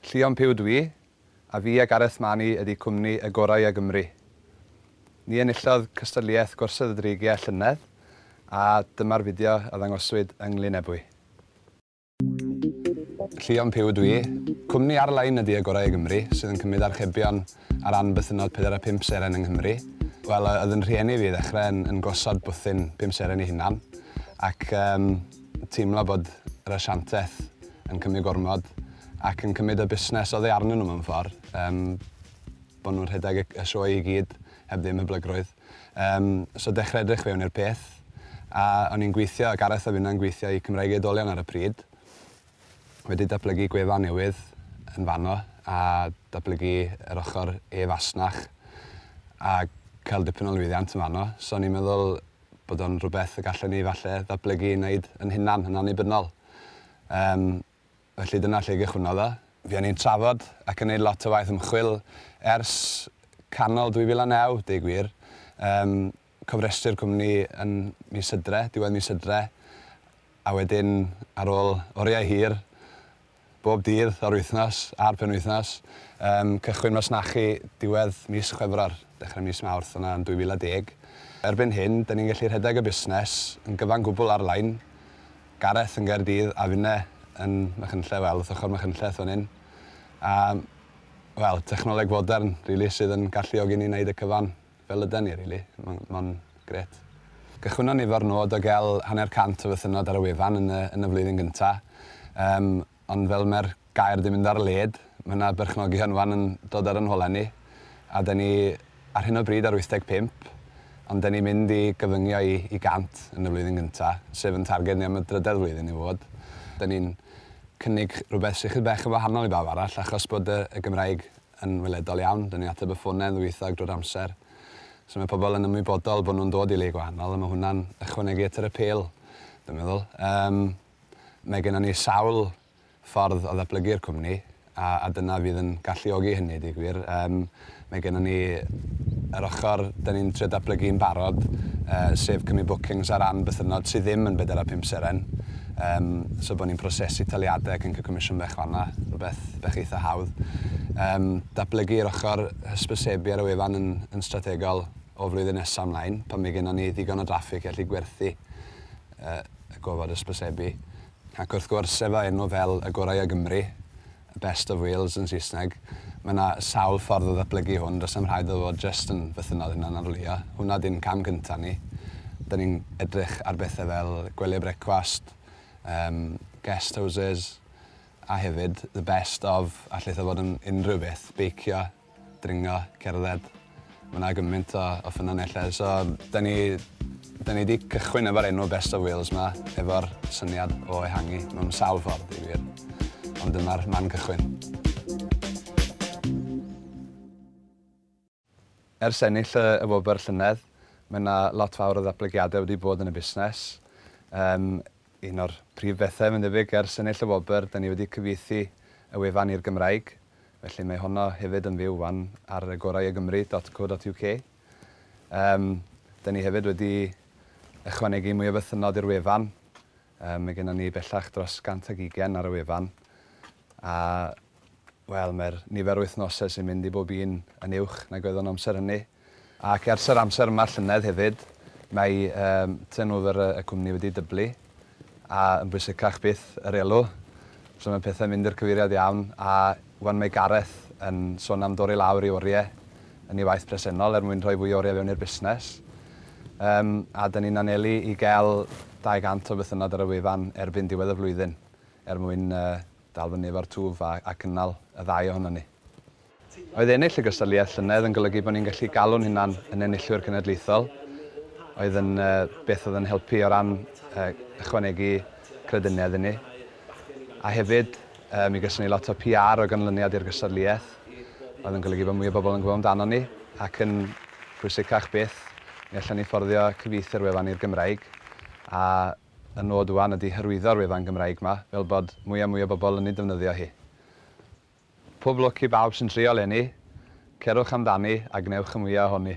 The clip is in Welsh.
Llion Puw Dw i, a fi a Gareth Mani ydi cwmni y gorau a Gymru. Ni enillodd cystadliaeth Gorsedd y Dreigiau llynedd a dyma'r fideo a ddangoswyd yng Nglynebwy. Llion Puw Dw i, cwmni ar-lein ydi y gorau a Gymru sydd yn cymryd archebion ar ran bythynnod pedair a phump seren yng Nghymru. Wel, oedd yn rhieni fi i ddechrau yn yn gosod bwthyn pum seren i hunan ac yym teimlo bod yr asiantaeth yn cymryd gormod ac yn cymryd y busnes oddi arnyn nhw mewn ffordd. Yym, bod nhw'n rhedeg y, y sioe i gyd, heb ddim hyblygrwydd. Um, so dechrau edrych fewn i'r peth, a o'n i'n gweithio, Gareth a finna'n gweithio i Cymraeg Eidolion ar y pryd, wedi datblygu gwefan newydd yn fanno a datblygu yr ochr e-fasnach a cael dipyn o lwyddiant yn fanno. So o'n i'n meddwl, bod o'n rhywbeth y gallen ni falle ddatblygu i wneud yn hunan, yn annibynnol. Yym, felly dyna lle gychwynnodd o. Fuon ni'n trafod ac yn neud lot o waith ymchwil ers canol 2009, deu gwir. Yym, cofrestru'r cwmni yn mis Hydre, diwedd mis Hydre, a wedyn ar ôl oriau hir, Bob dydd o'r wythnos a'r penwythnos, yym, cychwyn masnachu diwedd mis Chwefror, dechrau mis Mawrth yna yn 2010. Erbyn hyn, 'da ni'n gallu rhedeg y busnes yn gyfan gwbl ar-lein, Gareth yn Gaerdydd a finne yn Machynlleth, wel, wrth ochr Machynlleth fan hyn. A, wel, technoleg fodern, rili, sydd yn galluogi ni wneud y cyfan. fel ydan ni rili. Ma'n ma'n grêt. Cychwynnon ni efo'r nod o gael hanner cant o fythynnod ar y wefan yn y yn y flwyddyn gynta', yym ond fel mae'r gair 'di mynd ar led, ma' 'na berchnogion 'wan yn dod ar 'yn holau ni, a 'dan ni ar hyn o bryd ar 85, ond 'dan ni'n mynd i gyfyngio i i gant yn y flwyddyn gynta', sef 'yn targed ni am y drydedd flwyddyn i fod. 'Dan ni'n cynnig rhywbeth sy chydig bach yn wahanol i bawb arall achos bod y y Gymraeg yn weledol iawn. Dyn ni'n ateb y ffonau ddwyieithog drwy'r amser. So mae pobl yn ymwybodol bod nhw'n dod i le gwahanol a mae hwnna'n ychwanegu at yr apêl, dwi'n meddwl. Um, mae gennym ni sawl ffordd o ddatblygu'r cwmni a, a dyna fydd yn galluogi hynny, di gwir. Um, mae gennym ni yr ochr dyn ni'n trio datblygu'n barod, uh, sef cymryd bookings ar ran bythynnod sydd ddim yn 4 a 5 seren. Yym, so bod ni'n prosesu taliadau ac yn cael comisiwn bach fanna, rhywbeth bach eitha hawdd. Yym, datblygu'r ochr hysbysebu ar y wefan yn, yn strategol o flwyddyn nesaf ymlaen, pan mae gennym ni ddigon o draffig i allu gwerthu uh, y gofod hysbysebu. Ac wrth gwrs, efo enw fel y gorau o Gymru, Best of Wales yn Saesneg. Mae yna sawl ffordd o ddatblygu hwn, does na'm rhaid iddo fod jyst yn fythynnol hunanarlwyo. Hwnna ydy'n cam cynta' ni. Dan ni'n edrych ar bethe fel gwely brecwast, yym, guest houses, a hefyd the best of, allith o fod yn unrhyw beth, beicio, dringo, cerdded. Ma' 'na gymaint o o ffynonellau so 'dan ni 'dan ni 'di cychwyn efo'r enw Best of Wales 'ma efo'r syniad o ehangu mewn sawl ffordd i wir. Ond dyma'r man cychwyn. Ers ennill y y wobr llynedd ma' 'na lot fawr o ddatblygiade wedi bod yn y busnes. Yym. Un o'r prif bethau, mae'n debyg, ers ennill y wobr, 'da ni wedi cyfieithu y wefan i'r Gymraeg, felly mae honno hefyd yn fyw 'wan ar agoraioygymru dot co dot uk. Yym, 'da ni hefyd wedi ychwanegu mwy o fythynnod i'r wefan. Yym, mae gennon ni bellach dros 120 ar y wefan, a, wel, mae'r nifer o wythnosau sy'n mynd i bob un yn uwch nag oedd o'n amser hynny. Ac ers yr amser yma llynedd hefyd, mae turnover y cwmni wedi dyblu, a yn bwysicach byth, yr elw. So mae pethau'n mynd i'r cyfeiriad iawn, a 'wan mae Gareth yn sôn am dorri lawr ei oriau yn ei waith presennol er mwyn rhoi fwy o oriau fewn i'r busnes. Yym, a 'da ni'n anelu i gael 200 o fythynnod ar y wefan erbyn diwedd y flwyddyn, er mwyn dal fyny efo'r twf a cynnal y ddau ohonon ni. Oedd ennill y gystadleuaeth llynedd yn golygu bod ni'n gallu galw'n hunan yn enillwyr cenedlaethol, oedd yn beth oedd yn helpu o ran ychwanegu crediniaeth inni. A hefyd, mi geson ni lot o PR o ganlyniad i'r gystadleuaeth, oedd yn golygu bod mwy o bobl yn gwybod amdanon ni, ac yn bwysicach byth, mi allwn ni fforddio cyfieithu'r wefan i'r Gymraeg, a y nod ŵan ydi hyrwyddo'r wefan Gymraeg 'ma, fel bod mwy a mwy o bobl yn ei defnyddio hi. Pob lwc i bawb sy'n trio leni, cerwch amdani a gwnewch y mwya ohoni.